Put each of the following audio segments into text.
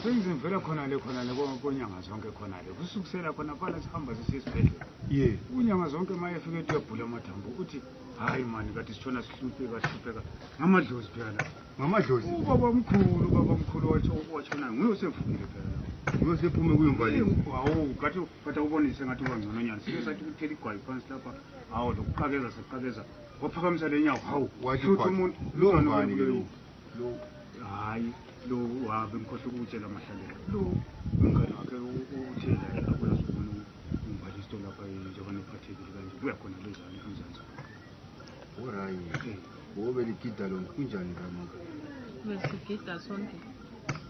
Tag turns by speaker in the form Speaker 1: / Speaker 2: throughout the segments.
Speaker 1: sengizimvela khonale khonale konyanga zonke khonale kusukusela khona phala sihamba sisiya esibhedlela ye unyanga
Speaker 2: zonke ma
Speaker 1: efike ethi uyabhula amathambo uthi hayi mani kade sitshona sihlupheka sihlupheka ngamadlozi phela la ngamadlozi ubaba
Speaker 2: omkhulu
Speaker 1: ubaba omkhulu watshona nguye osevumile phela nguye osephume
Speaker 2: kuyomvaleni hawu kathi
Speaker 1: kathi awubonise ngathi uba ngcono nyana sike sathi kuthela igwayi phansi lapha hawu lokuqakeza saqakeza waphakamisa le nyawo hawu wathi umuntu
Speaker 2: lo ngani ke lo lo hayi
Speaker 1: lo uhambe ngikhohle ukutshela amahlalela lo umngane wakhe uthe la uyazibona umbalisto lapha njengoba nephathekile kanje buya khona lezani emzansi
Speaker 2: orayi wobe ligida lona kunjani kamaka besigida
Speaker 3: sonke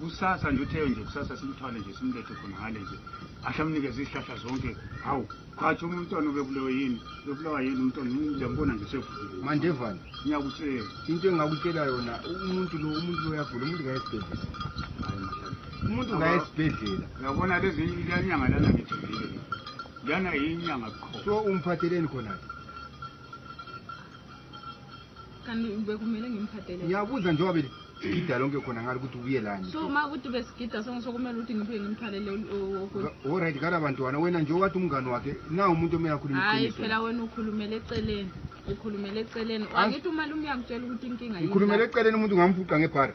Speaker 1: kusasa nje utheyo nje kusasa simthwale nje simlethe khona ngale nje ahle amnikeze izihlahla zonke hawu khathi uma umntwana ubebulewe yini bebulawa yini umntwana ngiyambona nje sevukile mandevane
Speaker 2: ngiyakutshela
Speaker 1: into engakutshela
Speaker 2: yona umuntu lo umuntu lo uyagula umuntu kayesibhedlela umuntu kayesibhedlela uyabona lezi
Speaker 1: lanyanga lana ngithembile lana yinyanga khona so umphatheleni
Speaker 2: khona-ke
Speaker 3: kanti bekumele ngimphathele ngiyabuza njengoba
Speaker 2: beligida lonke khona ngari ukuthi ubuye lani so ma ukuthi besigida
Speaker 3: sonke sokumele ukuthi ngiphe ngimthalele orit
Speaker 2: kala bantwana wena nje wathi umngani wakhe na umuntu omele akhuluma hayi phela wena
Speaker 3: ukhulumele eceleni ukhulumele eceleni angithi umalume uyangitshela ukuthi inkinga ngikhulumele eceleni umuntu ngamfuqa
Speaker 2: ngebhara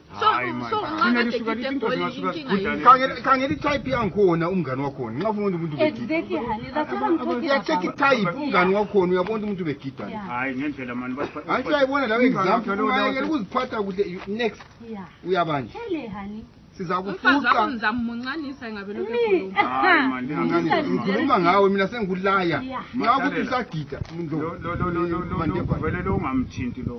Speaker 2: kangeri type yankuona umngani wakhona nxa ufuna umuntu
Speaker 4: yacheck type umngani
Speaker 2: wakhona uyabona ukuthi umuntu begida
Speaker 1: anti uyayibona lawo
Speaker 2: example kuziphatha kuhle next uyabanje
Speaker 3: sizakufuqangikhuluma
Speaker 2: ngawe mina sengikulaya nxa ukuthi usagida vele lo
Speaker 1: ungamthinti lo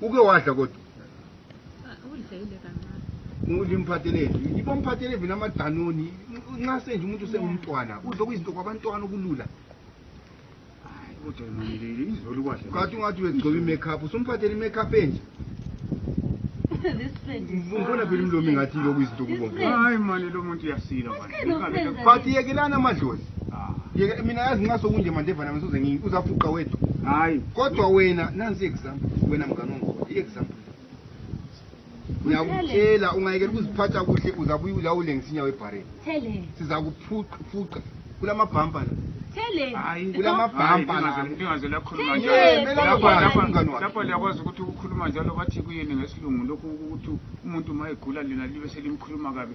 Speaker 2: uke wadla kodwa udla imphathelezi yiba mphathelezi namadanoni nxa senje umuntu usengumntwana udla okuyizinto kwabantwana okulula kathi ungathi uyegcoba i-makeup usumphathela i-makeup enje umbona phela umlomi ngathi ilokuyizinto kubomvu hayi mani lo muntu
Speaker 1: uyasila but
Speaker 2: yekelani amadlozi Ah. yeke mina yazi ngasokunje manje vana misuze ngini uzafuqa wethu hayi kodwa wena nansi i-example wena mngane ongikhoda i-example ngiyakutshela ungayekela ukuziphatha kuhle uzabuye ulawule ngisinya webhareni Tell her. siza
Speaker 4: kuphuqa
Speaker 2: kula mabhampa la Tell her. Hayi. kula
Speaker 1: mabhampa la
Speaker 2: ningaze lakhuluma Hey, njalo
Speaker 1: mela Lapha- ubani lapha- umngane wakhe? lapha liyakwazi ukuthi ukukhuluma njalo bathi kuyini ngesilungu lokhu ukuthi umuntu uma egula lina libe selimkhuluma kabi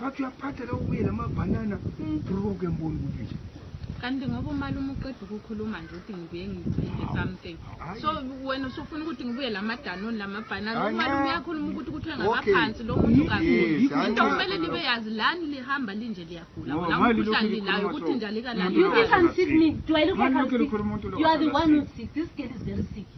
Speaker 2: bathi
Speaker 4: uyaphatha
Speaker 2: la ubuye lamabhanana hmm. broke emboni kuphi kanti ngoba
Speaker 3: umalume uqeda ukukhuluma nje ukuthi ngibuye ngithenge something so wena usufuna ukuthi ngibuye la madanoni la mabhanana umalume uyakhuluma ukuthi kuthi ngabaphansi lo muntu kakhulu into kumele libe yazi lani lihamba linje liyagula wona umkhuhlane lilayo ukuthi nje alikalani you can't sick me
Speaker 4: do i look like i'm sick you are the one who's sick this girl is very sick